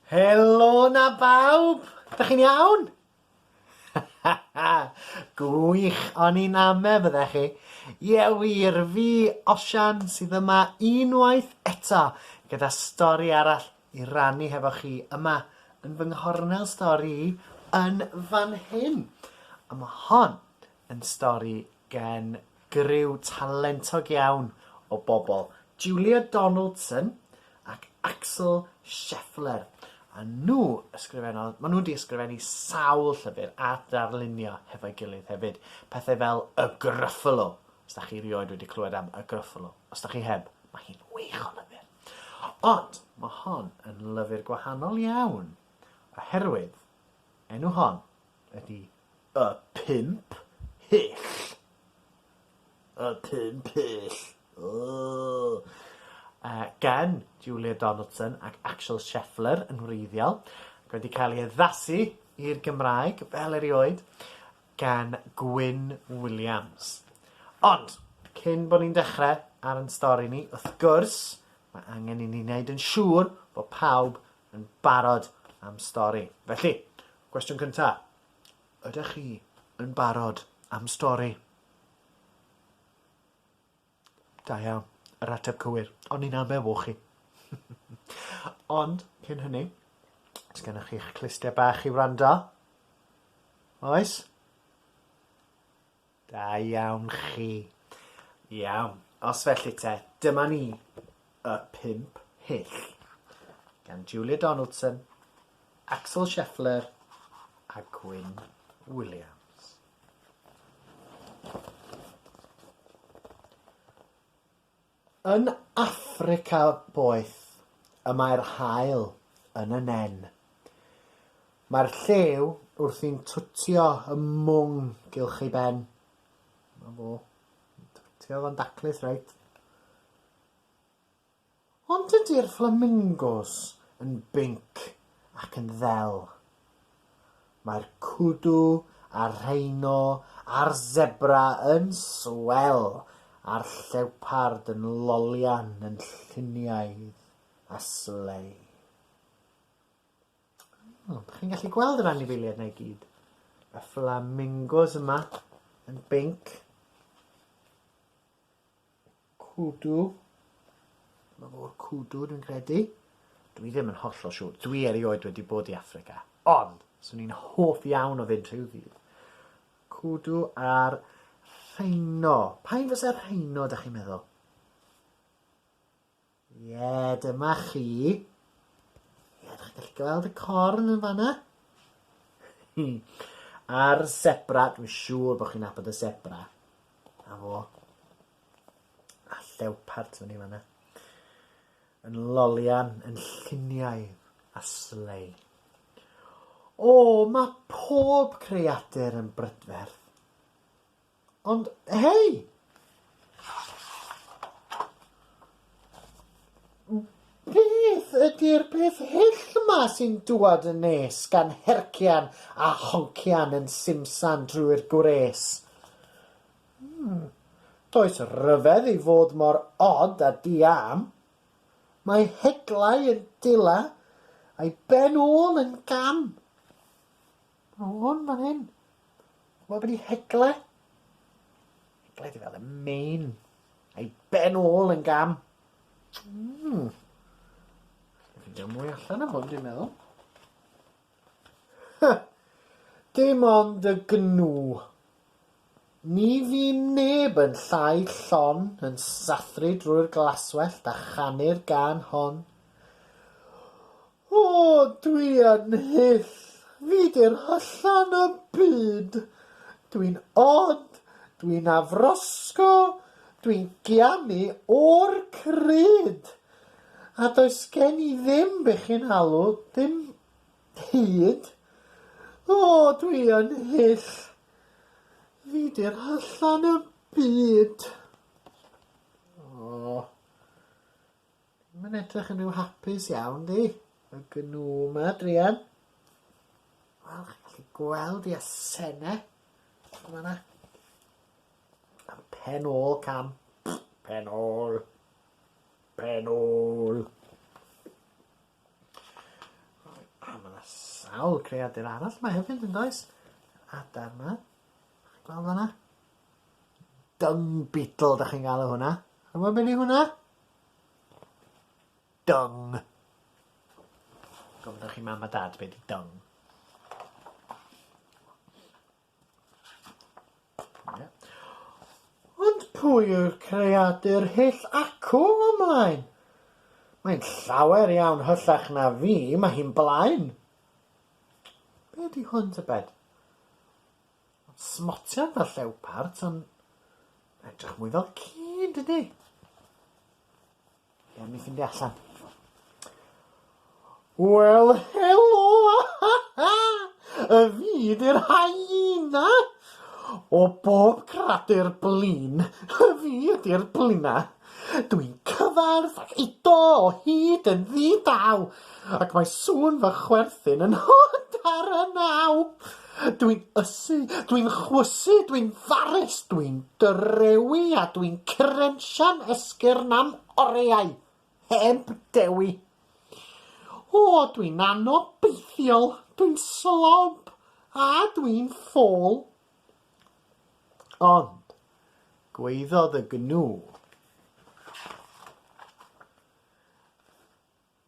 Helo na bawb! Dych chi'n iawn? Gwych, o'n i'n ame bydde chi. Ie wir, fi, Osian, sydd yma unwaith eto gyda stori arall i rannu hefo chi yma yn fy nghornel stori i yn fan hyn. A mae hon yn stori gan griw talentog iawn o bobl, Julia Donaldson ac Axel Scheffler, a nhw ysgrifennodd, maen nhw wedi ysgrifennu sawl llyfr a darlunio hefo'i gilydd hefyd, pethau fel Y Gruffalo, os da chi rioed wedi clywed am Y Gruffalo, os da chi heb, mae hi'n wych o lyfr. Ond mae hon yn lyfr gwahanol iawn, oherwydd enw hon ydy y pump hyll. Y pump hyll. Ooh. Uh, gan Julia Donaldson ac Axel Scheffler yn wreiddiol, ac wedi cael ei addasu i'r Gymraeg fel erioed gan Gwyn Williams. Ond, cyn bod ni'n dechrau ar yn stori ni, wrth gwrs, mae angen i ni wneud yn siŵr bod pawb Yn barod am stori. Felly, cwestiwn cynta, ydych chi yn barod am stori? Da iawn, yr ateb cywir. O'n ni'n amewo chi. Ond, cyn hynny, os gennych chi'ch clustiau bach i wrando? Oes? Da iawn chi. Iawn, os felly te, dyma ni, Y Pump Hyll, gan Julia Donaldson, Axel Scheffler a Gwyn Williams. Yn Affrica boeth y mae'r haul yn y nen. Mae'r llew wrthi'n twtio y mwng gylch ei ben. Mae fo. Twtio fo'n daclus, reit. Ond dydy'r fflamingos yn binc ac yn ddel. Mae'r kudu a'r rheino a'r sebra yn swell a'r llewpard yn lolian yn lluniaidd a slei. O, dych chi'n gallu gweld yr anifeiliaid na i gyd. Y flamingos yma yn binc. Kudu. Dyma fo'r Kudu, dwi'n credu. Dwi ddim yn hollol siŵr. Dwi erioed wedi bod i Affrica. Ond, swn i'n hoff iawn o fynd rhyw ddydd. Kudu a'r rheino. Pa un fysa'r rheino, da chi'n meddwl? Ie, dyma chi. Ie, dych chi'n gallu gweld y corn yn fanna? Hmm. A'r sebra, dwi'n siŵr bod chi'n abod y sebra. A fo. A llewpart fan i fanna. Yn lolian, yn lluniau a slei. O, mae pob creadur yn brydferth. Ond hei! Beth ydy'r peth hyll 'ma sy'n dŵad yn nes gan hercian a honcian yn simsan drwy'r gwres? Hmm, does ryfedd i fod mor od a di-am. Mae heglau yn dila, a'i ben ôl yn gam. O hwn fan hyn. Ch'mo' be' 'di hegle? Hegle 'di fel y main a'i ben ôl yn gam. Mm. Allai ffindio mwy allan am hwn dwi'n meddwl. Dim ond y gnw. Ni fu neb yn llai llon yn sathru drwy'r glaswellt a chanu'r gân hon, O, dwi yn hyll, fi 'di'r hyllan y byd, dwi'n od, dwi'n afrosgo, dwi'n gianu o'r crud, a does gen i ddim be' chi'n alw, ddim hud, O, dwi yn hyll! Fi 'di'r hyllan y byd. O. Mae'n edrych yn rhyw hapus iawn 'di? Y gnŵ 'ma druan. Wel chi'n gallu gweld 'i asenne. Yn fan 'na. A'r pen ôl cam. Pen ôl. Pen ôl. A ma' 'na sawl creadur arall 'ma hefyd yndoes? Adar 'ma. Chi'n gweld wnna? Dung beetle 'dach chi'n galw hwnna. Chi'n wbo be' 'di hwnna? Dung. Gofynnwch i mam a dad be' 'di dung. Ond pwy yw'r creadur hyll acw o 'mlaen? Mae'n llawer iawn hyllach na fi, mae hi'n blaen. Be ydy hwn tybed? Mae'n smotian fel llewpart, ond mae'n edrych mwy fel ci, yn dydy? Ia, mi ffindio allan. Wel, helo! y fi di'r hyena! O bob cradur blin, y fi ydi'r blina. Dwi'n cyfarth ac eto o hyd yn ddi-dal, ac mae sŵn fy chwerthin yn hod ar y naw. Dwi'n ysu, dwi'n chwysu, dwi'n farus, dwi'n dyrewi a dwi'n crensian esgyrn am oriau, heb dewi. O, dwi'n anobeithiol, dwi'n slob, a dwi'n ffôl. Ond, gweiddodd y gnu.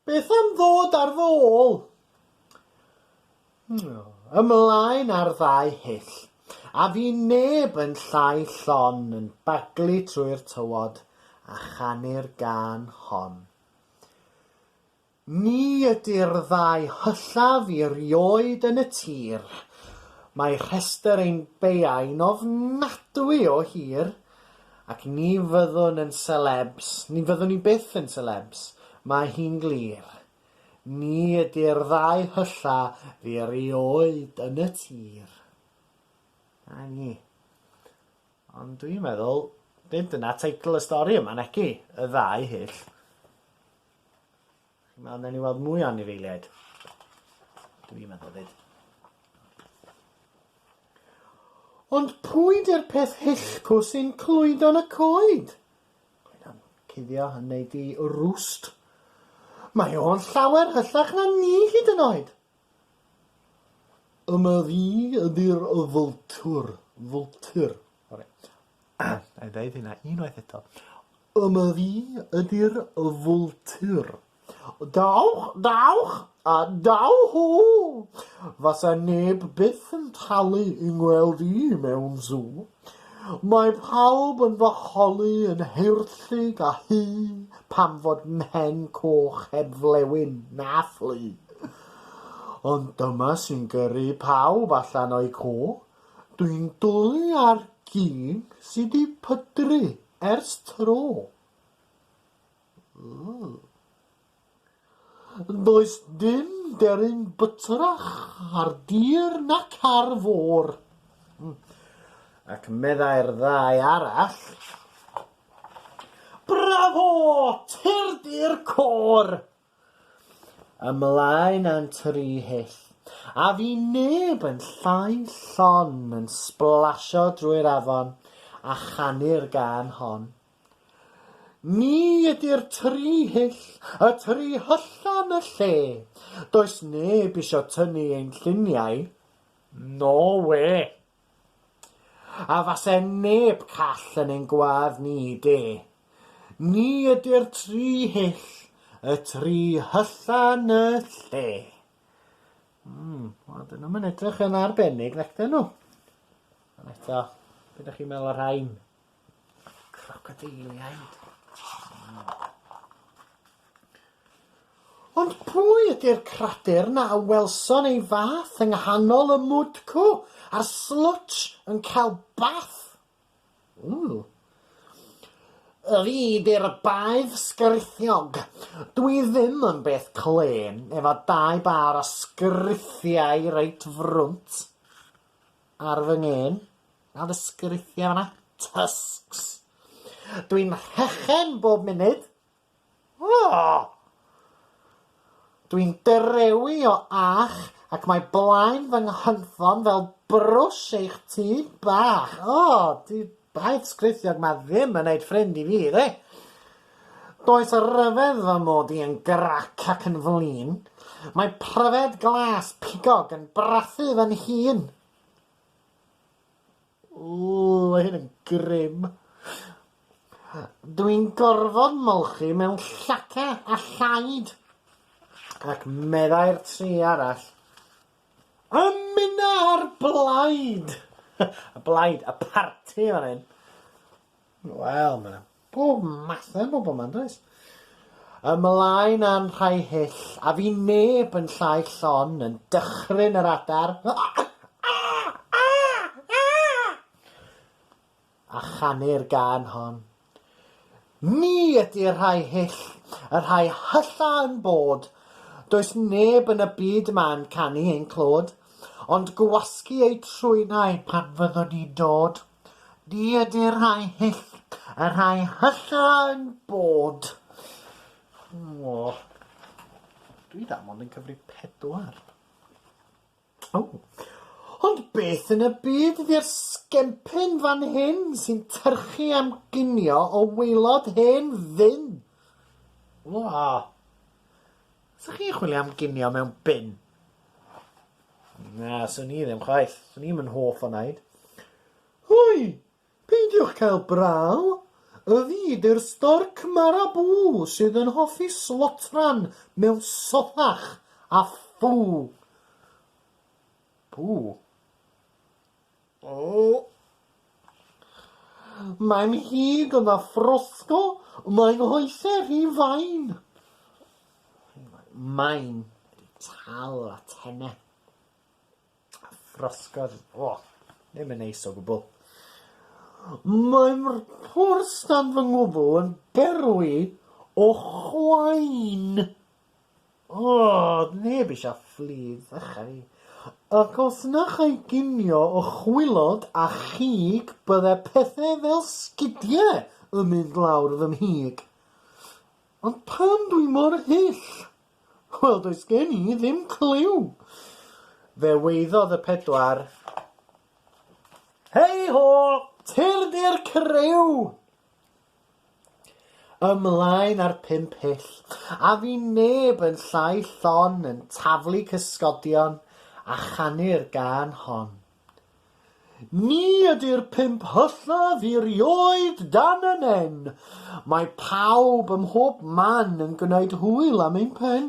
Beth am ddod ar fy ôl? Ymlaen â'r ddau hyll, a fu neb yn llai llon yn baglu trwy'r tywod a chanu'r gân hon. Ni ydy'r ddau hyllaf i rioed yn y tir. Mae rhestr ein beiau'n ofnadwy o hir, Ac ni fyddwn yn selebs, ni fyddwn ni byth yn selebs, mae hi'n glir. Ni ydy'r ddau hylla fi erioed yn y tir. Na ni. Ond dwi'n meddwl, nid dyna teitl y stori yma, naci? Y ddau hyll. Nawr newn ni weld mwy o anifeiliaid. Dw i'n meddwl fyd. Ond pwy di'r peth hillpw sy'n clwydo'n y coed? Clwydo'n cuddio yn neud i rwst. Mae o'n llawer hyllach na ni hyd yn oed. Yma fi ydy'r fwltwr. Fwltur. Oce. Na'i ddeud hynna unwaith eto. Yma fi ydy'r fwltur. Dawch, dawch, a daw hw! Fasa neb byth yn talu i ngweld i mewn sw. Mae pawb yn fy holi yn heirllug a hŷ pam fod mhen coch heb flewyn na phlu. Ond dyma sy'n gyrru pawb allan o'u co, dwi'n dwlu ar gig sy 'di pydru Ers tro. Mm. Does dim deryn bytrach ar dir nac ar fôr. Mm. Ac meddai'r ddau arall, Bravo! Tirdi'r côr! Ymlaen â'n tri hyll. A fu neb yn llai llon yn sblasio drwy'r afon a chanu'r gân hon. Ni ydy'r tri hyll y tri hyllan y lle. Does neb isio tynnu ein lluniau. No wê! A fase neb call yn ein gwadd ni, de. Ni ydy'r tri hyll, y tri hylla yn y lle. Mm, wel, dyn nhw'm yn edrych yn arbennig, nac dyn nhw? Ond eto, be' 'dach chi'n meddwl o'r rhain? Crocodiliaid. Ond pwy ydy'r cradur na a welson ei fath yng nghanol y mwdcw a'r slwtsh yn cael bath? Ww. Y fi di'r baedd sgrithiog. Dw i ddim yn beth clên efo dau bâr o sgrithiau reit frwnt ar fy ngên. Nawr y sgriciau yma. Tusks. Dwi'n rhechen bob munud. Oh! Dwi'n dyrewi o ach ac mae blaen fy nghynffon fel brwsh eich tŷ bach. O, oh, di baedd sgrithiog mae ddim yn neud ffrind i fi, dde. Does y ryfedd fy mod i yn grac ac yn flin. Mae pryfed glas pigog yn brathu fy nhîn. Ww, mae hyn yn grim. Dw i'n gorfod molchi mewn llaca a llaid. Ac meddai'r tri arall, Ymuna'r blaid! y blaid, y parti fan hyn. Wel, mae 'na Pob math o bobl 'ma, yndoes? Ymlaen â'n rhai hyll, a fu neb yn llai llon yn dychryn yr adar, a chanu'r gân hon. Ni ydy'r rhai hyll y rhai hylla yn bod, does neb yn y byd yma'n canu ein clod, ond gwasgu eu trwynau pan fyddwn ni'n dod. Ni ydy'r rhai hyll, y rhai hyllyau'n bod. O. Dwi dda mond yn cyfrif pedwar. O. Ond beth yn y byd ydy'r sgempyn fan hyn sy'n tyrchu am ginio o waelod hen ddyn? O. Sa chi'n chwilio am ginio mewn bin? Na, swn i ddim chwaith. Swn i'm yn hoff o naid. Hoi! Peidiwch cael braw! Y fi di'r storc marabw sydd yn hoffi slotran mewn sothach a ffw! Pw! Mae'n hud yn afrosgol, mae nghoesau rhy fain. Mae'n rhy tal a tenau. Afrosgol, o, ddim yn neis o gwbl. Mae'r pwrs dan fy ngwddw yn berwi o chwain. Doedd neb eisiau fflyd, achau fi. Ac os na chai ginio o chwilod a chig bydde pethau fel sgidiau yn mynd lawr fy mhig. Ond pam dwi mor hyll? Wel, does gen i ddim cliw! Fe weiddodd y pedwar, Hei ho! Tyrd i'r criw! Ymlaen ar pump hyll, a fu neb yn llai llon yn taflu cysgodion a chanu'r gân hon. Ni ydy'r pump hyllaf i 'rioed dan y nen, mae pawb ym mhob man yn gwneud hwyl am ein pen.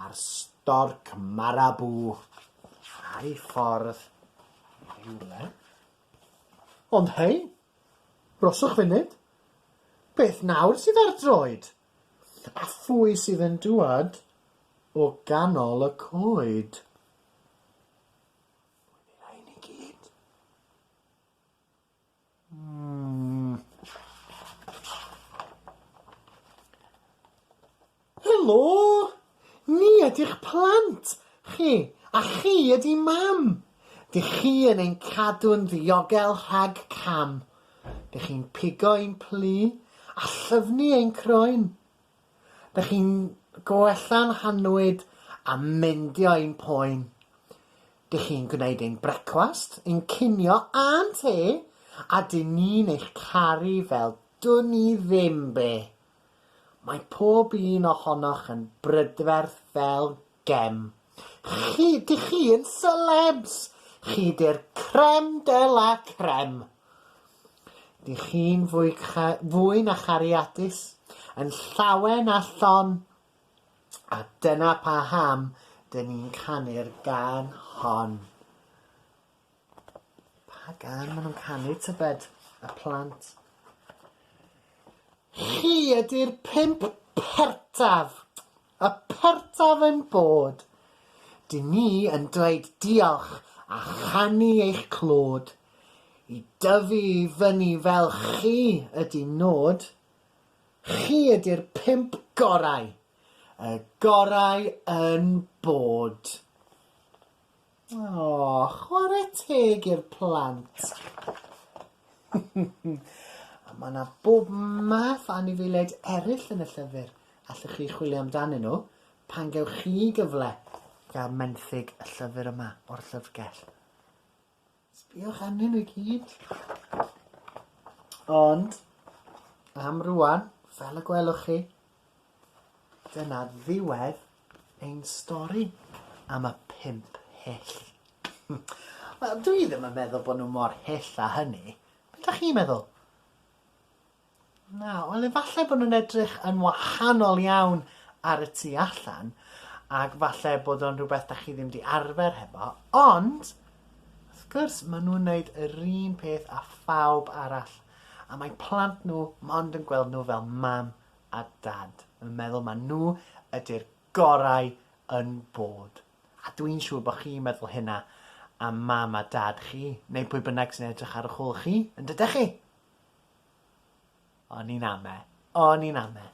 a'r storc marabw ar ei ffordd i rywle. Ond hei, broswch funud, beth nawr sydd ar droed? A phwy sydd yn dŵad o ganol y coed? Hwy'n ei rhain i gyd. Helo! Ni ydy'ch plant chi, a chi ydy Mam. Dych chi yn ein cadw'n ddiogel rhag cam. Dych chi'n pigo ein plu a llyfnu ein croen. Dych chi'n gwella'n hannwyd a meindio ein poen. Dych chi'n gwneud ein brecwast, ein cinio a'n te a dyn ni'n eich caru fel dwn ni ddim be. Mae pob un ohonoch yn brydferth fel Gem. Chi, dych chi yn selebs! Chi di'r crem de la crem! Dych chi'n fwy, fwy na chariadus, yn llawen a llon, a dyna pa ham dyn ni'n canu'r gan hon. Pa gan maen nhw'n canu, tybed, y plant? Chi ydy'r pimp pertaf! Y pertaf ein bod. Dŷ ni yn dweud diolch a chanu eich clod. I dyfu i fyny fel chi ydy nod. Chi ydy'r pump gorau, y gorau yn bod. Aww, chwarae teg i'r plant! A mae 'na bob math o anifeiliaid eraill yn y llyfr allwch chi chwilio amdanyn nhw pan gewch chi gyfle i gael menthyg y llyfr yma o'r Llyfrgell. Sbïwch arnyn nhw i gyd. Ond, am rwan, fel y gwelwch chi, dyna ddiwedd ein stori am y pimp hyll. Wel, dwi ddim yn meddwl bod nhw mor hyll a hynny. Be da chi'n meddwl? Na, ond efallai bod nhw'n edrych yn wahanol iawn ar y tu allan, ac falle bod o'n rhywbeth da chi ddim di arfer hefo, ond, wrth gwrs, maen nhw'n wneud yr un peth a phawb arall, a mae plant nhw mond yn gweld nhw fel mam a dad, yn meddwl maen nhw ydy'r gorau yn bod. A dwi'n siŵr bod chi'n meddwl hynna am mam a dad chi, neu pwy bynnag sy'n edrych ar y chwl chi, yn dydych chi? O'n i'n ame. O'n i'n ame.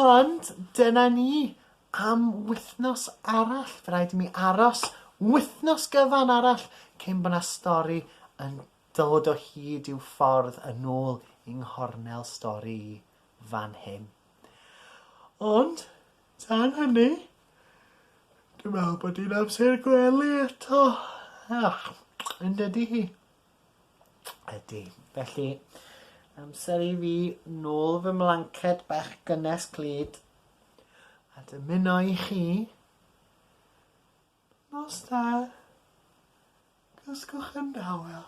Ond dyna ni am wythnos arall. Fe rhaid i mi aros wythnos gyfan arall cyn bod 'na stori yn dod o hyd i'w ffordd yn ôl yng nghornel stori i fan hyn. Ond, tan hynny, dwi'n meddwl bod hi'n amser gwely eto. Ach, yn dydy hi? Ydy. Felly, amser i fi nôl fy mlanced bach gynnes clyd a dymuno i chi nos da. Gysgwch yn dawel.